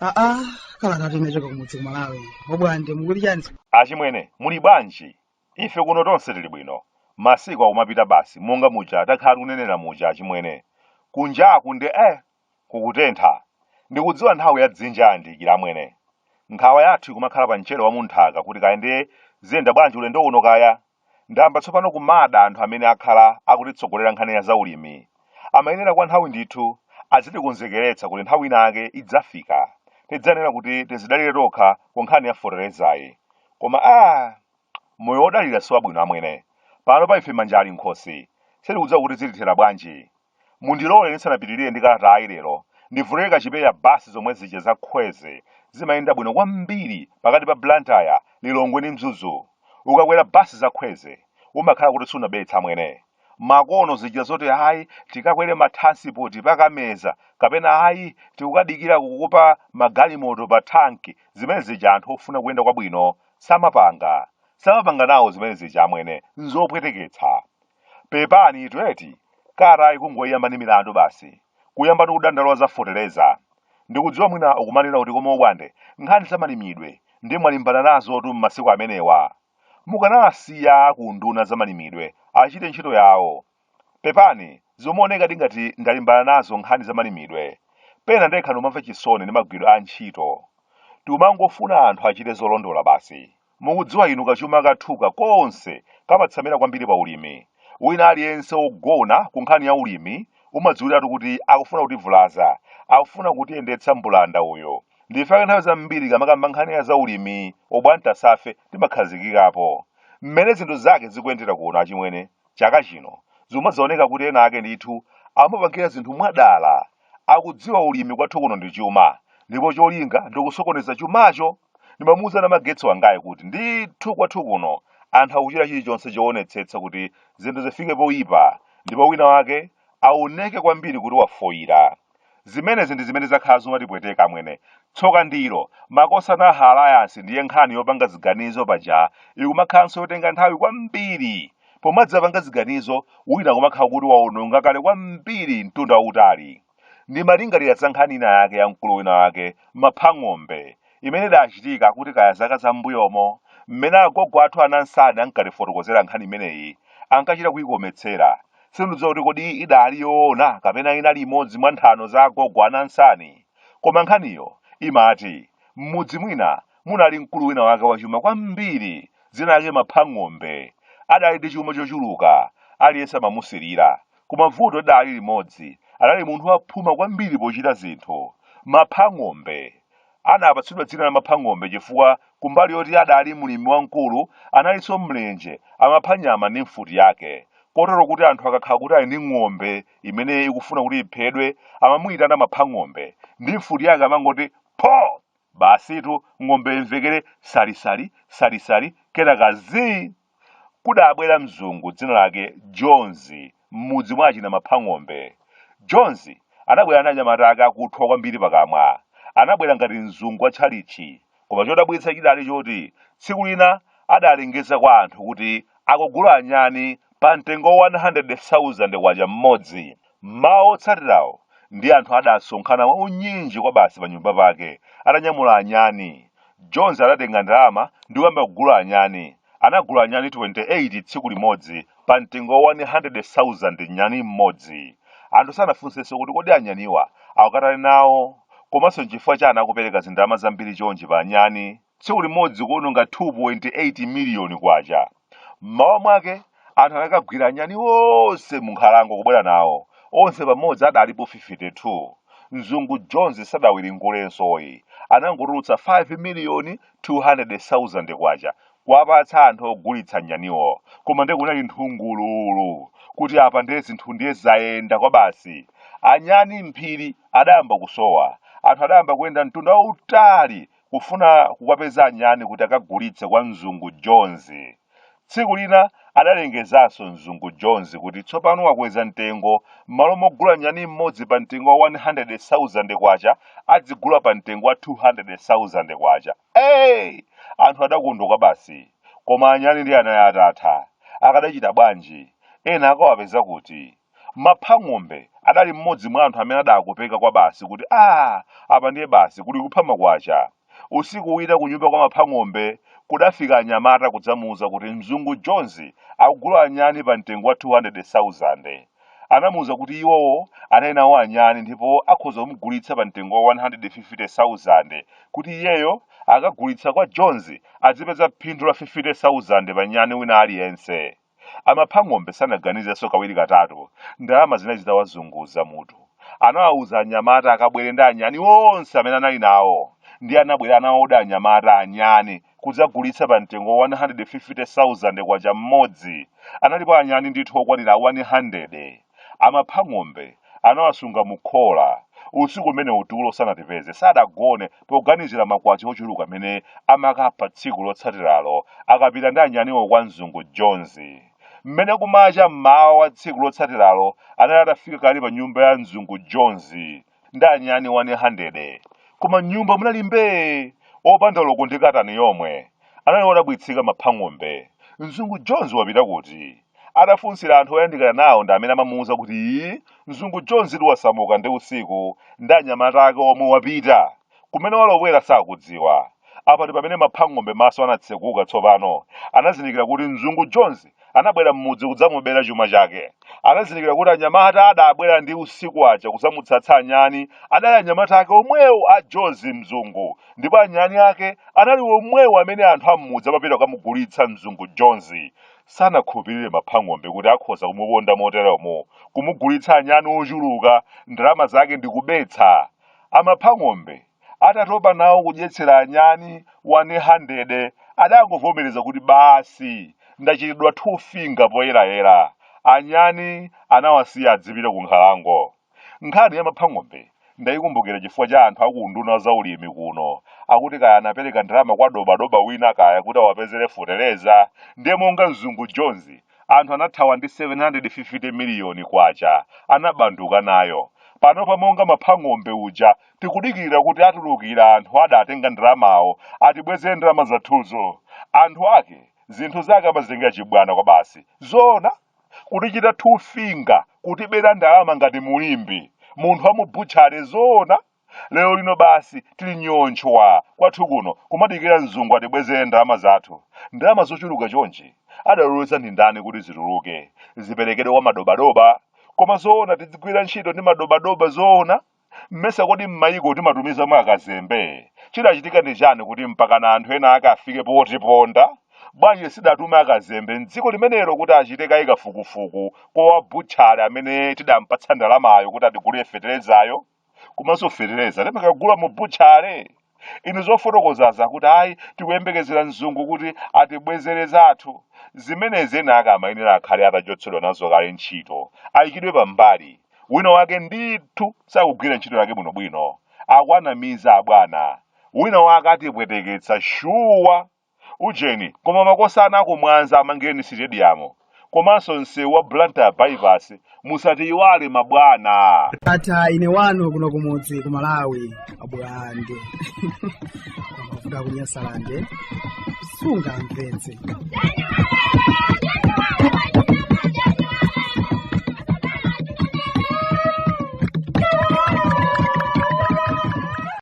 aa kalatatu inachoka kumudzi ku Malawi obwande mukuti chani achimwene muli bwanji ife kuno tonse tili bwino masiku akumapita basi monga muja takhala tikunenera muja achimwene kunjaku nde eh Kukutentha. Ndikudziwa nthawi ya dzinja yayandikira amwene. Nkhawa yathu ikumakhala pa mchere wa m'nthaka kuti kaya ndiye ziyenda bwanji ulendo uno kaya. Ndayamba tsopano kumada anthu amene akhala akutitsogolera nkhani ya zaulimi. Amayenera kwa nthawi ndithu azitikonzekeretsa kuti nthawi inayake idzafika. Tidzayenera kuti tizidalire tokha ku nkhani ya feterezayi. Koma aa! Moyo wodalira si wabwino amwene. Pano pa ife manja ali m'khosi. Sitikudziwa kuti zitithera bwanji. Mundilole ndisanapitirire ndi kalatayi lero, ndivulire kachipewa basi zomwe zija za khweze zimayenda bwino kwambiri pakati pa Blantyre, Lilongwe ndi Mzuzu. Ukakwera basi za khweze, umakhala kuti sunabetse amwene. Makono zija zoti ayi tikakwere ma transport pa Kameza kapena ayi tikukadikira kukupa magalimoto pa Thanki, zimene zija anthu ofuna kuyenda kwabwino samapanga. Samapanga nawo zimene zija amwene, n'zopweteketsa. pepanitu eti kalata ikungoyamba ndi milandu basi kuyamba ndi kudandaula za fetereza ndikudziwa mwina ukumanena kuti koma obwande nkhani zamalimidwe nde mwalimbana nazotu m'masiku amenewa mukanasiya unduna wa zamalimidwe achite ntchito yawo pepani zomaonekadi ngati ndalimbana nazo nkhani zamalimidwe pena ndekha ndimamva chisoni ndi magwiridwe a ntchito timangofuna anthu achite zolondola basi Mukudziwa inu kachuma kathuka konse kamatsamira kwambiri pa ulimi. Wina aliyense wogona ku nkhani ya ulimi umadziwiratu kuti akufuna kutivulaza, akufuna kutiyendetsa mbulanda uyo. N'chifukwa chake nthawi zambiri tikamakamba nkhani ya za ulimi obwantasa ife timakhazikikapo. Mmene zinthu zake zikuyendera kuno achimwene chaka chino zimadzaoneka kuti ena ake ndithu amapangira zinthu mwadala. Akudziwa ulimi kwathu kuno ndi chuma ndipo cholinga ndi kusokoneza chumacho. ndimamuuza namagetsi wangayu kuti ndithu kwathu kuno anthu akuchita chilichonse choonetsetsa kuti zinthu zifike poyipa ndipo wina wake aoneke kwambiri kuti wafoyira zimenezi ndi zimene zakhala zikumatipweteka amwene tsoka ndilo makosana aha alliance ndiye nkhani yopanga ziganizo paja ikumakhalanso yotenga nthawi kwambiri pomadzapanga ziganizo wina kumakhala kuti waononga kale kwambiri mtunda wautali ndimalingalira za nkhani ina yake ya mkulu wina wake maphang'ombe imene idachitika kuti kaya zaka za m'mbuyomo mmene agogo athu anansani ankatifotokozera nkhani imeneyi ankachita kuyikometsera sindidziwa kuti kodi idali yoona kapena inali imodzi mwa nthano za agogo anansani koma nkhaniyo imati m'mudzi mwina munali mkulu wina wake wachuma kwambiri dzina lake maphang'ombe adali ndi chuma chochuluka aliyense amamusirira Koma vuto lidali limodzi, anali munthu waphuma kwambiri pochita zinthu. Maphang'ombe. Anapatsidwa dzina la Maphang'ombe chifukwa kumbali yoti adali mlimi wamkulu, analinso mlenje, amapha nyama ndi mfuti yake. Kotero kuti anthu akakhala kuti ali ndi ng'ombe imene ikufuna kuti iphedwe, amamuyitana Maphang'ombe, ndi mfuti yake amangoti pho! Basitu ng'ombeyo imvekere salisali, salisali, kenaka zii! Kudabwera mzungu dzina lake Jones m'mudzi mwa achina Maphang'ombe. Jones anabwera ndi anyamata ake akuthwa kwambiri pakamwa. Anabwera ngati mzungu wa tchalitchi. Koma chodabwitsa chidali choti tsiku lina adalengeza kwa anthu kuti akugula anyani pa mtengo wa K100,000 mmodzi. M'mawa wotsatirawo, ndiye anthu adasonkhana mwaunyinji kwabasi panyumba pake, atanyamula anyani. Jones adatenga ndalama ndi kuyamba kugula anyani. Anagula anyani 28 tsiku limodzi pamtengo wa 100,000 nyani mmodzi. Anthu sanafunsenso kuti kodi anyaniwa akukatani nawo komanso n'chifukwa chani akupereka zindalama zambiri chonchi pa anyani. tsiku limodzi kuononga K2.8 miliyoni. M'mawa mwake, anthu anakagwira anyani onse munkhalango kubwera nawo. Onse pamodzi adalipo 52. Mzungu Jones sadawiringulenso ayi. Anangotulutsa K5,200,000 kuwapatsa anthu ogulitsa anyaniwo. Koma ndiye kunali nthungululu kuti apa ndiye zinthu ndiye zayenda kwabasi. Anyani m'phiri adayamba kusowa. Anthu adayamba kuyenda mtunda wautali kufuna kukawapeza anyani kuti akagulitse kwa mzungu Jones. Tsiku lina adalengezanso mzungu Jones kuti tsopano wakweza mtengo, m'malo mogula nyani mmodzi pa mtengo wa K100,000 adzigula pa mtengo wa K200,000. Hey! Anthu adakondwa kwabasi. Koma anyani ndiye anali atatha. Akadachita bwanji? Ena akawapeza kuti? Maphang'ombe adali mmodzi mwa anthu amene adakopeka kwabasi kuti, Aa! Apa ndiye basi, kuli kupha makwacha. Usiku wina kunyumba kwa Maphang'ombe kudafika anyamata kudzamuuza kuti mzungu Jones akugula anyani pamtengo wa 200,000. Anamuuza kuti iwowo anali nawo anyani ndipo akhoza kumugulitsa pamtengo wa 150,000 kuti iyeyo akagulitsa kwa Jones adzipeza phindu la 50,000 pa nyani wina aliyense. A Maphang'ombe sanaganizenso kawiri katatu. Ndalama zinali zitawazunguza mutu. Anawawuza anyamata akabwere ndi anyani onse amene anali nawo. Ndiye anabwera nawodi anyamata anyani kudzagulitsa pa mtengo wa 150,000 kwacha mmodzi. Analipo anyani ndithu okwanira 100. a maphang'ombe anawasunga mu khola usiku umenewu tulo sanatipeze sadagone poganizira makwacha ochuluka amene amakapha tsiku lotsatiralo akapita ndi anyaniwo kwa mzungu jones mmene kumacha mmawa wa tsiku lotsatiralo anali atafika kale pa nyumba ya mzungu jones ndi anyani 100 koma mnyumba munali mbee opanda loko ndi katani yomwe anali odabwitsika maphang'ombe mzungu jones wapita kuti adafunsira anthu oyandikana nawo ndi amene amamuwuza kuti iyi mzungu jones ndiye wasamuka ndi usiku ndi anyamata ake omwe wapita Kumene walowera sakudziwa. Apa ndi pamene Maphang'ombe maso anatseguka tsopano. Anazindikira kuti Mzungu Jones anabwera m'mudzi kudzamubera chuma chake. Anazindikira kuti anyamata adabwera ndi usiku aja kudzamutsatsa anyani adali anyamata ake omwewo a Jones, Mzungu, ndipo anyani ake anali omwewo amene anthu a m'mudzi amapita kukamugulitsa Mzungu Jones. Sanakhulupirire Maphang'ombe kuti akhoza kumuponda moteromo, kumugulitsa anyani ochuluka, ndalama zake ndi kubetsa. A Maphang'ombe, atatopa nawo kudyetsera anyani 100 adangovomereza kuti basi ndachitidwa two finger poyerayera, anyani anawasiya adzipita kunkhalango. Nkhani ya Maphang'ombe ndaikumbukira chifukwa cha anthu a ku unduna wa zaulimi kuno akuti kaya anapereka ndalama kwa dobadoba wina kaya kuti awapezere fotereza ndiye monga mzungu Jones anthu anathawa ndi 750 miliyoni kwacha anabanduka nayo panopa monga maphang'ombe uja tikudikirira kuti atulukira anthu adatenga ndalamawo atibwezere ndalama zathuzo anthu ake zinthu zake amazitengera chibwana kwabasi zoona kutichita two finger kutibera ndalama ngati mu limbe munthu wa mu butchale zoona lero lino basi tili nyontchwa kwathu kuno kumadikira mzungu atibwezere ndalama zathu ndalama zochuluka chonchi adaloleza ndi ndani kuti zituluke ziperekedwe kwa madobadoba koma zoona tidzigwira ntchito ndi madobadoba zoona mmesa kodi mmayiko timatumizamo akazembe chidachitika ndi chani kuti mpakana anthu ena ake afike potiponda bwanji sidatume akazembe mdziko limenelo kuti achite kaye kafukufuku kwa wabutchale amene tidampatsa ndalamayo kuti atigulire feterezayo komanso fetereza timakagula mu butchale inu zofotokozaza kuti ayi tikuyembekezera mzungu kuti atibwezere zathu zimenezi ena ake amayenera akhale atachotsedwa nazo kale ntchito ayikidwe pambali wina wake ndithu sakugwira ntchito yake bwinobwino akuwanamiza abwana wina wake atipweteketsa shuwa Ujeni koma makosana aku Mwanza amangireni sitediyamu komanso msewu wa Blantyre bypass musatiyiwale mabwana. Ndatha ine wanu kuno kumudzi ku Malawi abulande aku Nyasalande sunga mpenzi